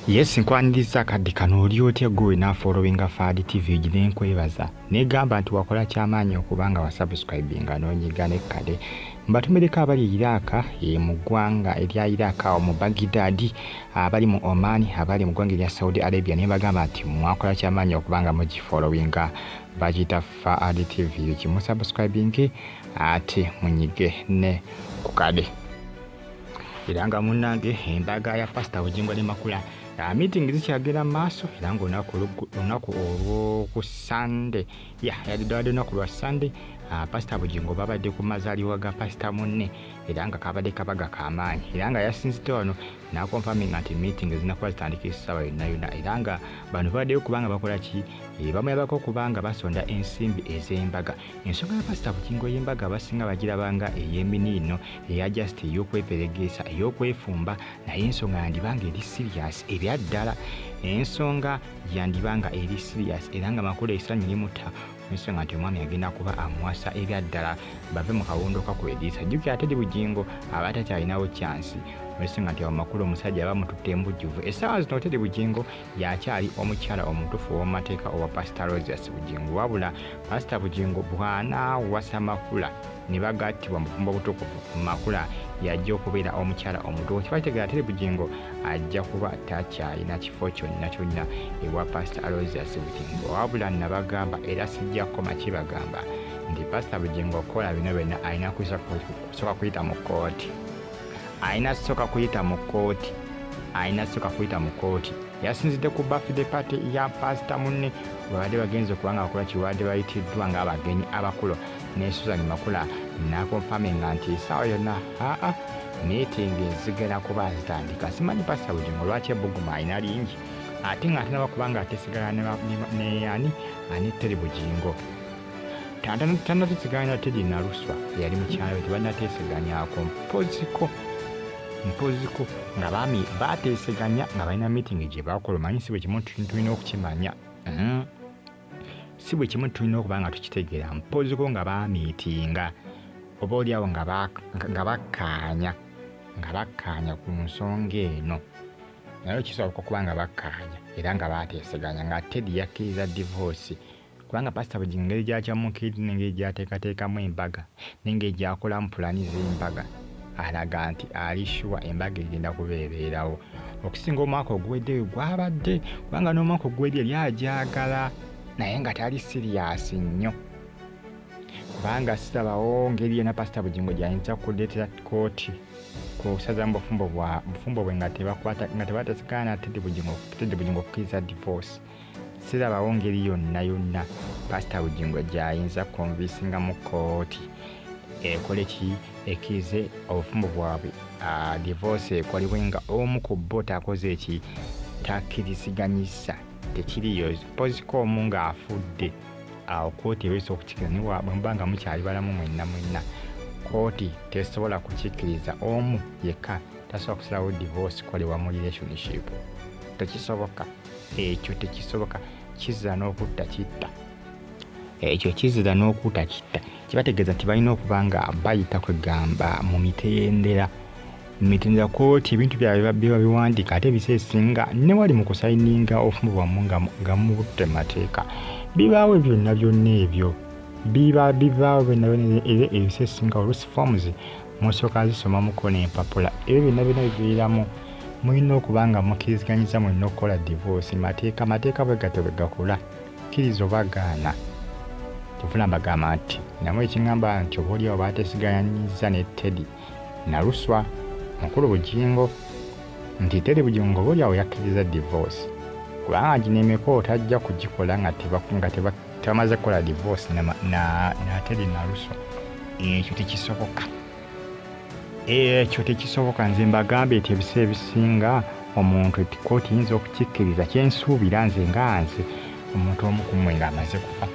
Yes nkwaniriza kadde kano oli otya gwe nafollowinga Fadi TV egi nenkwebaza negamba nti wakola kyamaanyi okuba nga wasubscribinga nonyiga nekkade mbatumireko abali e Iraaka e mu ggwanga erya Iraaka mu Bagidadi abali mu Oman abali mu ggwanga erya Saudi Arabia naye bagamba nti mwakola kyamaanyi okuba nga mugifollowinga bagiyita Fadi TV egi musubscribinge ate munyige ne kukade era nga munnange embaga ya pasita bugingo ne makula ah, meeting zikyagenda mu maaso era nga olunaku olwoku sande ya yaliddwade olunaku lwa sande ah, pasita bugingo babadde ku mazaliwa ga pasita munne era nga kabadde kabaga kamaanyi era nga yasinzidde wano nakonfaminga nti meeting zinakuba zitandika esaawa yonayona era nga bano babaddeyo kubanga bakola ki eh, bamuyabako kubanga basonda ensimbi ez'embaga ensonga ya pasita bugingo y'embaga abasinga bagiraba nga ey'eminiino eya just ey'okweperegeesa ey'okwefumba naye ensonga yandiba nga eri sirias ebya ddala ensonga yandiba nga eri sirias era nga makulu esanyu limuta ensonga nti omwami agenda kuba amuwasa ebya ddala bave mu kawundo kakwediisa jjukira ate di bugingo aba atakyalinawo kyansi ensonga nti awo makulu omusajja aba mututte embujjuvu essaawa zino oteri bugingo yakyali omukyala omutufu ow'omumateeka owa pasita rosius bugingo wabula pasita bugingo bw'anaawasa makula ne bagattibwa mufumbo obutukuvu makula yajja okubeera omukyala omutuufu kiba kitegera teri bugingo ajja kuba takyalina kifo kyonna kyonna ewa pasita alosius bugingo wabula nabagamba era sijja kukoma kibagamba nti pasita bugingo okukola bino byonna alina kusooka kuyita mu kkooti alina soka kuyita mu kooti alina soka kuyita mu kooti yasinzidde ku bafide pate ya pasita munne webadde bagenze okuba nga bakola kibadde bayitiddwa ng'abagenyi abakulu ne susan makula nakonfaminga nti esaawa yonna aa miitingi zigenda kuba zitandika simanyi pasita bugingo lwaki ebuguma alina lingi ate ng'ate nabakubanga atesigala neyani ani teri bugingo tanateseganya na tedi naluswa eyali mukyalo nti banateseganyako mpoziko mpoziko nga bami bateseganya nga balina meeting gye bakola omanyi si bwe kimu tulina okukimanya mm-hmm. si bwe kimu tulina okuba nga tukitegeera mpoziko nga bamiitinga oba oliawo nga bakkaanya nga bakkaanya ku nsonga eno naye kisoboka okuba nga bakkaanya era nga bateseganya nga tedi yakkiriza divoosi kubanga pasita bugingo engeri gyakyamukiridde nengeri gyateekateekamu embaga nengeri gyakolamu pulani z'embaga alaga nti ali shuwa embaga egenda kuba ebeerawo okusinga omwaka oguwedde we gwabadde kubanga n'omwaka oguwedde yali agyagala naye nga tali siriyasi nnyo kubanga sirabawo ngeri yona pasita bugingo gyayinza kuleetera kooti kusaza mu bufumbo bwe nga tebatesigana tedi bugingo okukkiriza divorce sirabawo ngeri yonna yonna pasita bugingo gyayinza konvisinga mu kooti ekole ki ekirize obufumbo bwabwe ah, divorce ekolebwe nga omu ku bo takoze eki takkiriziganyisa tekiriyo poziko omu ng'afudde awo kooti ebeesa okukikira nibwemubanga mukyali balamu mwenna mwenna kooti tesobola kukikkiriza omu yekka tasobola kusalawo divorce kolebwa mu relationship tekisoboka ekyo tekisoboka kizira n'okutta kitta ekyo kizira n'okuta kitta kibategeeza nti balina okuba nga bayita kwegamba mu mitendera mitendera koti ebintu byabwe biba biwandiika ate ebisa esinga ne wali mu kusayininga obufumu bwamu nga mubutte mateeka bibaawo ebyo byonna byonna ebyo biba bibaawo byonna byonna ebisa esinga olusi forms musooka zisomamuko n'empapula ebyo byonna byonna biviiramu mulina okuba nga mukiriziganyiza mulina okukola divoosi mateeka mateeka bwe gatyo bwe gakula kkiriza oba gaana kyovula mbagamba nti namu ekingamba nti oba oliawo baatesiganyiza ne teddy naluswa mukulu bugingo nti teddy bugingo oba oliawo yakkiriza divoosi kubanga ginemeko otajja kugikola nga tebakungate twamaze kukola divorce nateri naluso ekyo tekisoboka ekyo tekisoboka nze mbagambye nti ebiseera ebisinga omuntu kooti yinza okukikkiriza kyensuubira nze nga nze omuntu omukumwe nga amaze kufa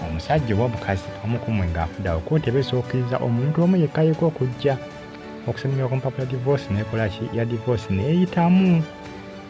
omusajja oba omukazi omukumwe nga afudawo kooti eba esookiriza omuntu omu yekkayeko okujja okusemera ku mpapula divorce nekolaki ya divorce neyitamu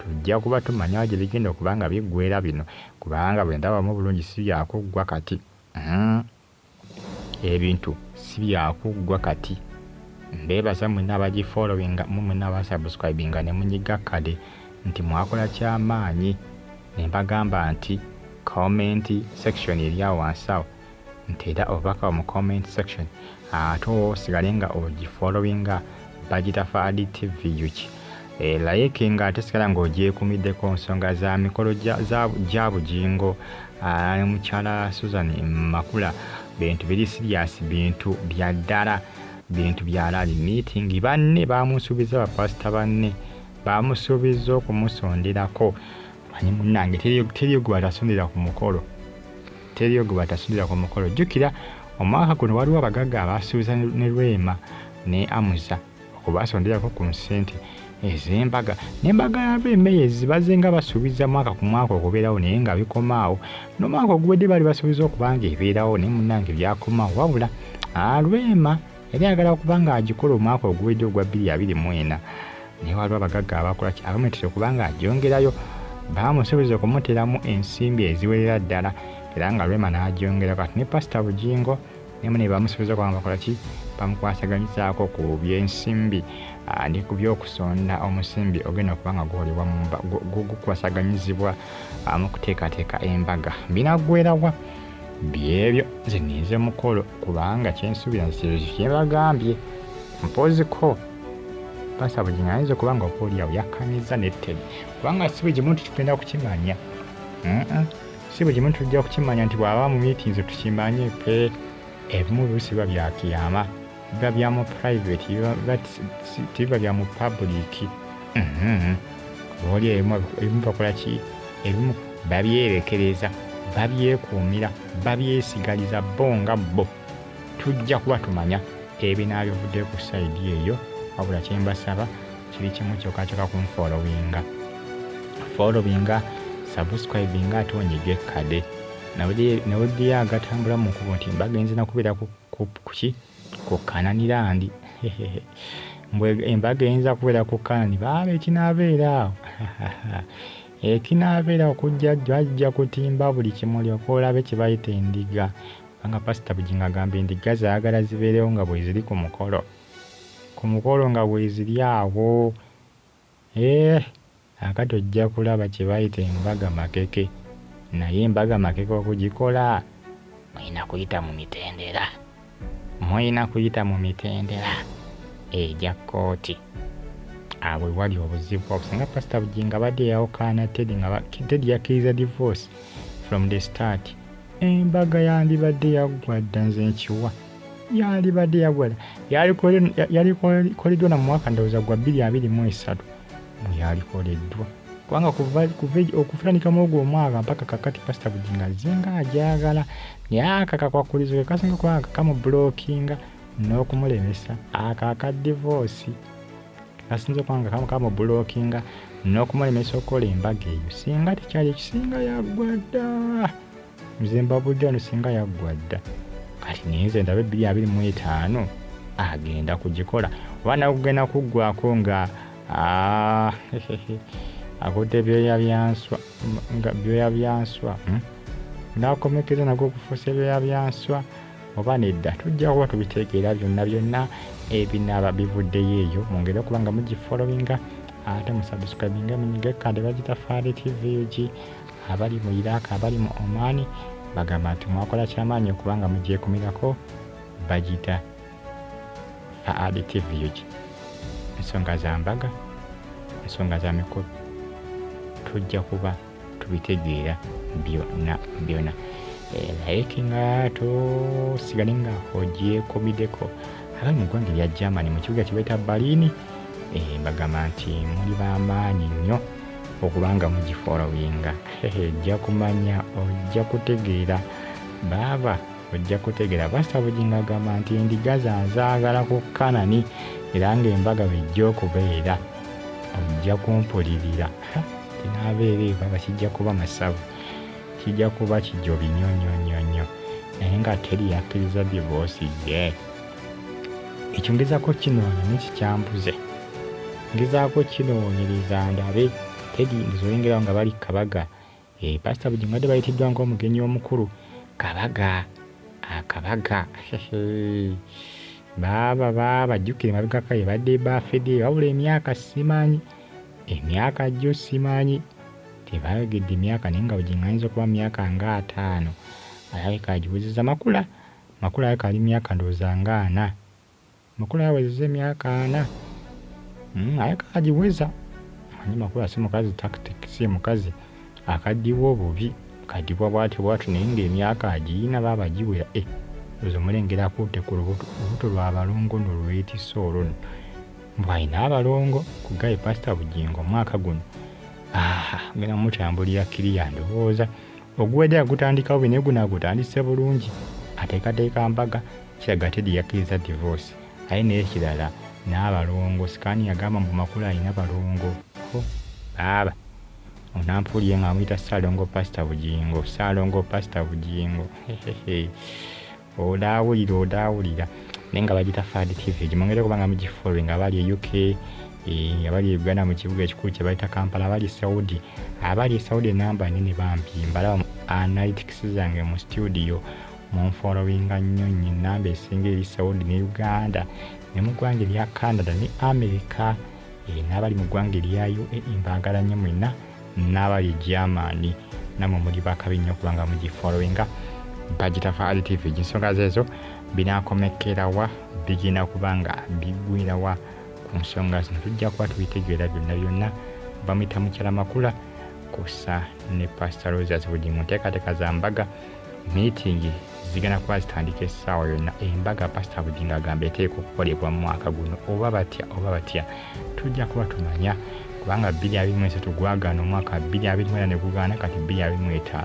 Tujja kuba tumanya gye bigenda okuba nga biggweera bino kubanga bwe ndabamu obulungi si bya kuggwa kati. Uhmm. Ebintu si bya kuggwa kati. Mbeebaza mwenna abagifollowinga mu mwenna abaasubscribinga ne munyiga kkade nti mwakola kya maanyi ne mbagamba nti comment section eri awo wansi awo nti era obubaka mu comment section ate osigale nga ogifollowinga bagitafa adi tv yuki e, like nga ate sigala nga ogyekumiddeko nsonga za mikolo gya bugingo ne mukyala susan makula bintu biri sirias bintu bya ddala bintu bya laali meeting banne bamusuubiza bapasita banne bamusuubiza okumusonderako manyi munange teri gwe atasondera ku mukolo Teri ogwo bwatasubira ku mukolo. Jjukira omwaka guno waliwo abagagga abaasuubiza ne Rwema ne Amuza okubaasonderako ku nsente ez'embaga n'embaga ya Rwema eyo ezibaze nga basuubiza mwaka ku mwaka okubeerawo naye nga bikomaawo n'omwaka oguwedde baali basuubiza okuba nga ebeerawo naye munnange byakomaawo wabula Rwema yali ayagala okuba nga agikola omwaka oguwedde ogwa bbiri abiri mu ena naye waliwo abagagga abakola ki abamuletera okuba nga agyongerayo baamusuubiza okumuteramu ensimbi eziwerera ddala era nga lwema n'agyongera kati ne pasita bugingo nemu ne bamusuubiza okuba nga bakola ki bamukwasaganyizaako ku byensimbi ah, ne ku by'okusonda omusimbi ogenda okuba nga gukolebwa gukwasaganyizibwa ah, mu kuteekateeka embaga binaggwerawa byebyo nze ninze mukolo kubanga kyensuubira nsiruzi kyebagambye mpoziko pasa buli ngayinza okuba nga obaoliawo yakkanyiza netted kubanga si buli muntu tugenda kukimanya Mm-mm. si buli muntu tujja kukimanya nti bw'aba mu meetings tukimanye pe ebimu biba byakiyama biba bya mu private biba- biba si- si- tebiba bya mu public Mhm. oli ebimu ebimu bakola ki ebimu babyerekereza babyekuumira babyesigaliza bo nga bo tujja kuba tumanya ebinaabivudde ku sayidi eyo wabula kyembasaba kiri kimu kyokka kyokka ku nfolowinga folowinga subscribinga ate onyige kade nawe diye agatambula mu nkubo nti mbagenze nakubeera ku Kup kuki ku kanani landi mbwe embaga eyinza kubeera ku kanani baaba ekinaabeera awo ekinaabeera okujja jjo ajja kutimba buli kimu lyoka olabe kye bayita endiga kubanga pasita bujingo agamba endiga zaagala zibeerewo nga bweziri ku mukolo ku mukolo nga bweziri awo Eeh kakati ojja kulaba kyebayita embaga makeke naye embaga makeke okugikola muyina kuyita mu mitendera muyina kuyita mu mitendera egya kooti awo ewali obuzibu awo singa pasita bujinga abadde yawukaana tedi nga tedi yakkiriza divorce from the start embaga yandibadde yaggwa dda nze nkiwa yalibadde yagwala yalikoleddwa na mwaka ndowooza gwa bbiri abiri mu esatu mweyalikoleddwa kubanga okufulanikama ogwo omwaka mpaka kakati pasita bujinga azinga ajagala naye akakakwakulizo kekasinga kubanga kakamubulokinga n'okumulemesa ako aka divoosi asinza okwanga kamu kamu bulokinga n'okumulemesa okukola embaga eyo singa tekyali ekisinga yagwada nze mbabudde ono singa yaggwa dda kati naye nze ndaba ebbiri abiri mu etaano agenda kugikola oba nawe kugenda kuggwako nga ah, akutte ebyoya byanswa nga byoya byanswa hmm? nakomekeza nago okufuusa ebyoya byanswa oba nedda tujja kuba tubitegeera byonna byonna ebinaaba bivuddeyo eyo mungeri okuba nga mugifolowinga ate musubscribinga munyiga kandi bagita faali tv ug abali mu iraq abali mu oman bagamba nti mwakola kyamaanyi okubanga mugyekumirako bagita faad tvug ensonga za mbaga ensonga za mikolo tujja kuba tubitegeera byona byona eh, naye kinga tosigale nga ogyekumideko abali mu ggwanga erya germany mu kibuga kibaita balini eh, bagamba nti muli bamaanyi nnyo okuba nga mugifolowinga ojja kumanya ojja kutegeera baaba ojja kutegeera pasita bugingo agamba nti endiga zanzaagala ku kanani era ng'embaga bejja okubeera ojja kumpulirira tinaabeera ebaba kijja kuba masavu kijja kuba kijobi nyo nyo nyo nyo naye nga teri yakkiriza divoosi ye yeah. ekyo ngezako kinoonya nekikyambuze ngezaako kinoonyereza ndabe tedi ngezoyengerawo nga bali kabaga e, eh, pasita bujingo badde bayitiddwa ngaomugenyi omukulu kabaga akabaga baaba baaba jjukire mabegaka ebadde bafede wabula emyaka simanyi emyaka jjo simanyi tebayogedde emyaka naye nga bujingo ayinza okuba myaka nga ataano alabika agiwezeza makula Makula yakaali myaka ndowooza nga ana. Makula yawezeza emyaka ana mm, ayagala agiweza manyi makula si mukazi tactic si mukazi akadibwa obubi kadibwa bwatyo bwatyo naye nga emyaka agiina baaba giwera e eh, ozo mulengera akuute ku lubuto lwa balongo no lwetisa olwo no mbu alina abalongo ku gaye pasita bugingo omwaka guno aha genda mutambulira kiriya ndowooza oguwedde yagutandikawo bine guno agutandise bulungi ateekateeka mbaga kiraga tedi yakkiriza divorce aye n'ekirala n'abalongo sikaani yagamba mbu makulu alina balongo ho baaba onampuliye nga amuyita saalongo pasita bugingo saalongo pasita bugingo odaawulira odaawulira naye nga bagita fad tv egyo mwongere kuba nga mugifollowing abali e uk eh, abali e uganda mu kibuga ekikulu kye bayita kampala abali e saudi abali e saudi enamba nene bambi mbalaba analytics zange mu studio munfollowinga nnyo nyo enamba esinga eri saudi ne uganda ne mu ggwanga erya canada ne america eh, n'abali mu ggwanga erya uae mbaagala nnyo mwena n'abali germany namwe muli bakabi nnyo kubanga mugifollowinga bagitafa ali tv ensonga zeezo binakomekerawa bigenda kuba nga bigwirawa ku nsonga zino tujja kuba tubitegeera byonna byonna bamuyita mukyala makula kusa ne pasita rosas buli mu nteekateeka za mbaga miitingi zigenda kuba zitandika essaawa yonna embaga pasita bugingo agamba eteeka okukolebwa mu mwaka guno oba batya oba batya tujja kuba tumanya kubanga 223 gwagaana omwaka 224 ne gugaana kati 225